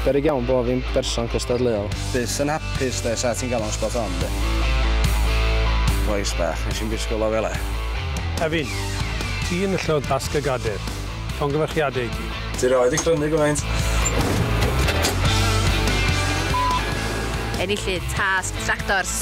Berig iawn bod fi'n berson cystadleuol. Bus yn hapus de, sa ti'n gael o'n spot on de. Boes bach, nes i'n bisgol o fel e. Efin, ti yn y llod basg y gader. Llongyfarchiadau i ti. Ti roed i crynu gymaint. Enillydd tasg tractors.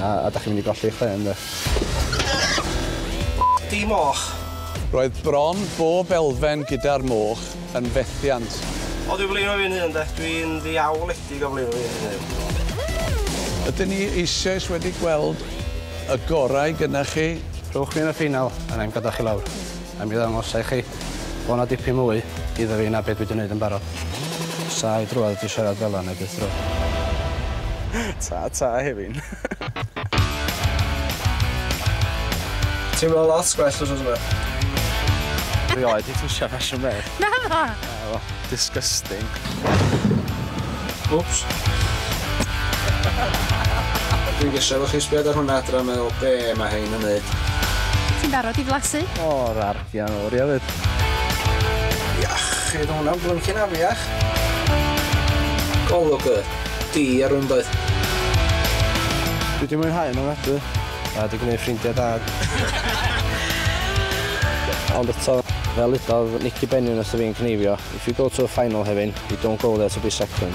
A ydach chi'n mynd i golli eich pen de? Di moch! Roedd bron bob elfen gyda'r moch yn fethiant. O dwi blino fi'n hun de. Dwi'n ddiawledig o blino fi'n hun. Ydyn ni eisioes wedi gweld y gorau gynna chi? Rhowch fi yn y ffeinal a na'i'm gadael chi lawr. A mi ddangosa i chi bod 'na dipyn mwy iddo fi na be' dwi 'di neud yn barod. Sa i drwodd 'di siarad fel 'a neu byth drwodd. Ta ta Hefin. Teimlo lot gwell wsos yma. Rioed 'di twsio ffasiwn beth. Naddo? O, disgusting. Wps. Dwi'n gesio fo chi sbiad ar hwnna adra meddwl be mae hein yn neud. Ti'n barod i flasu? O, rar, di angen oria fyd. Iachyd, hwnna'n blyncyn afiach. Golwg y di ar hwn doedd. Dwi di mwynhau yn ofnadwy. A di gwneud ffrindiau da. Ond eto, fel udodd Nicky Bennion wrtho fi yn cneifio, If you go to a final, Hefin, you don't go there to be second.